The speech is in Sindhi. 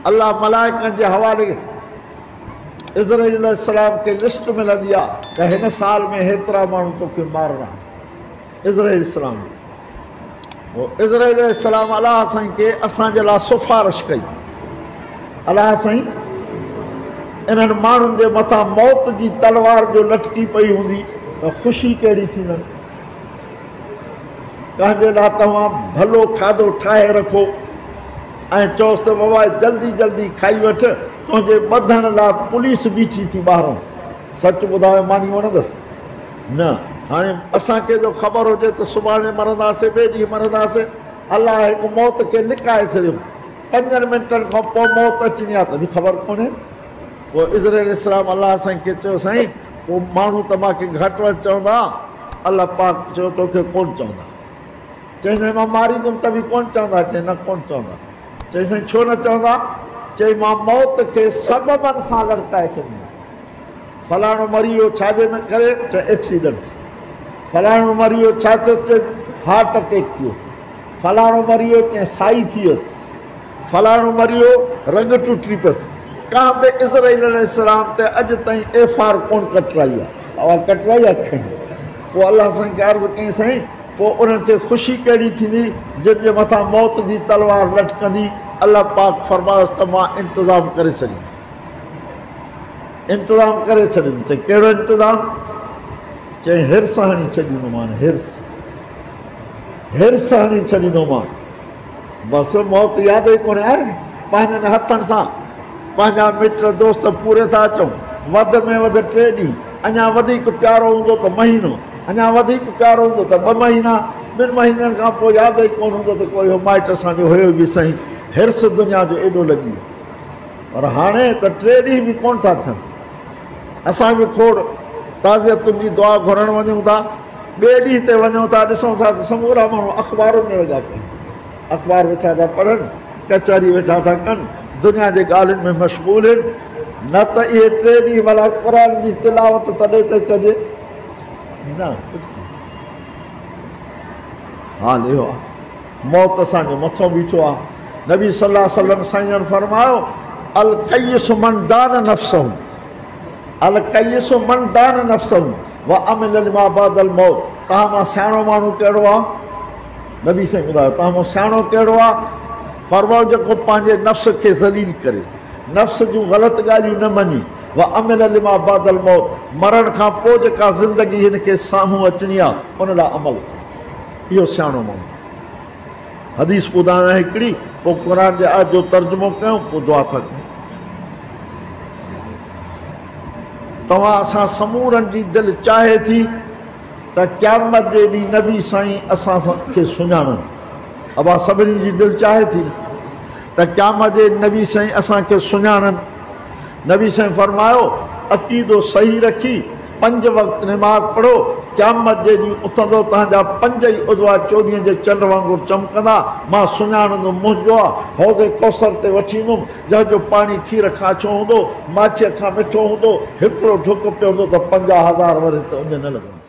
الله ملائڪن جي حوالي عزرائيل عليه السلام کي لسٽ ملندي آ ته هن سال ۾ هيترا ماڻهو توکي مارڻا عزرائيل السلام هو عزرائيل عليه السلام الله سائين کي اسان جي لا سفارش ڪئي الله سائين انهن ماڻهن جي مٿان موت جي تلوار جو لٽڪي پئي هوندي ته خوشي ڪهڙي ٿيندن پنهنجي لاء توهان ڀلو کاڌو ٺاهي رکو ۽ چئوس ته بابا جلدي جلدي کائي وٺ، تنهنجي ٻڌڻ لاء پوليس بيٺي ٿي ٻاهرون. سچ ٻڌايو ماني وڻندس؟ نه هاڻي. اسان کي جو خبر هجي ته سڀاڻي مرنداسين، ٻئي ڏينهن مرنداسين، الله هڪ موت کي لڪائي ڇڏيو، پنجن منٽن کان پوء موت اچڻي آهي تنهنجي خبر ڪونهي. پوء عزر عليه السلام الله سائين کي چيو سائين پوء ماڻهو ته مان کي گهٽ وڌ چوندا الله پاڪ چيو تو کي ڪون چوندا چئي سائين مان ماريندم ته به ڪون چوندا چئي نه ڪون چوندا چئي سائين ڇو نه چوندا چئي مان موت کي سببن سان لڙڪائي ڇڏيندم فلاڻو مري ويو ڇا جي ۾ ڪري چا ايڪسيڊنٽ فلاڻو مري ويو ڇا چي هارٽ اٽيڪ ٿيو فلاڻو مري ويو ڪنهن سائي ٿي ويس فلاڻو مريو، رڳ ٽٽي پس. ڪنهن به اسرائيل عليه السلام تي اڄ تائين ايف آر ڪونه ڪٽرائي آ. اوهان ڪٽرائي آ کڻي. پوء الله سائين کي عرض ڪيائين سائين پوء انهن کي خوشي ڪهڙي ٿيندي جن جي مٿان موت جي تلوار لٽڪندي الله پاڪ فرمايس ته مان انتظام ڪري ڇڏيم انتظام ڪري ڇڏيم چئي ڪهڙو انتظام چئي هرس هڻي ڇڏيندومان هرس هرس هڻي ڇڏيندومان بس موت ياد ئي ڪونهي آئي. پنهنجن هٿن سان پنهنجا مٽ دوست پوري ٿا اچون. وڌ ۾ وڌ ٽي ڏينهن، اڃا وڌيڪ پيارو هوندو ته مهينو، اڃا وڌيڪ پيارو هوندو ته ٻه مهينا، ٻن مهينن کان پوء ياد ئي ڪونه هوندو ته ڪو اهو مائٽ اسان جو هيو به سهين. حرص دنيا جو ايڏو لڳي ويو پر هاڻي ته ٽي ڏينهن به ڪونه ٿا ٿين. اسان به کوڙ تعزيتن جي دعا گهرڻ وڃون ٿا. ٻئي ڏينهن تي وڃون ٿا، ڏسون ٿا ته سمورا ماڻهو اخبارن ۾ لڳا پيا آهن. اخبار ويٺا ٿا پڙهن، ڪچهري ويٺا ٿا ڪن، دنيا جي ڳالهين ۾ مشغول هن. نه ته اهي ٽي ڏينهن ڀلا قرآن جي تلاوت تڏهن ته ڪجي. نه ڪجهه ڪونه. حال اهو آهي موت اسان جي مٿو بيٺو آ نبي صلي الله عليه وسلم سائين جن فرمايو الڪيس من دان نفسه الڪيس من دان نفسه وعمل لما بعد الموت تان مان سياڻو ماڻهو ڪهڙو آ نبي سائين ٻڌايو تان مان سياڻو ڪهڙو آ فرمايو جيڪو پنهنجي نفس کي ذليل ڪري نفس جون غلط ڳالهيون نه مڃي وعمل لما بعد الموت مرڻ کان پوء جيڪا زندگي هن کي سامهون اچڻي آ ان لاء عمل ڪري اهو سياڻو ماڻهو حديث ٻڌايان هڪڙي پوء قرآن جي آيت جو ترجمو ڪيون پوء دعا ٿا ڪيون توهان اسان سمورن جي دل چاهي ٿي ته قيامت جي ڏينهن نبي سائين اسان کي سڃاڻن ابا سڀني جي دل چاهي ٿي ته قيامت جي نبي سائين اسان کي سڃاڻن نبي صلعم فرمايو، عقيدو صحيح رکي پنج وقت نماز پڙهو، قيامت جي ڏينهن اٿندو تهنجا پنج ئي عضوا چوڏهينء جي چنڊ وانگر چمڪندا، مان سڃاڻندم منهنجو آ حوض ڪوثر تي وٺي ايندم، جنهن جو پاڻي کير کان اڇو هوندو، ماکيء کان مٺو هوندو، هڪڙو ڍڪ پيئندو ته پنجاهه هزار ورهيه تي اڃ نه لڳندس.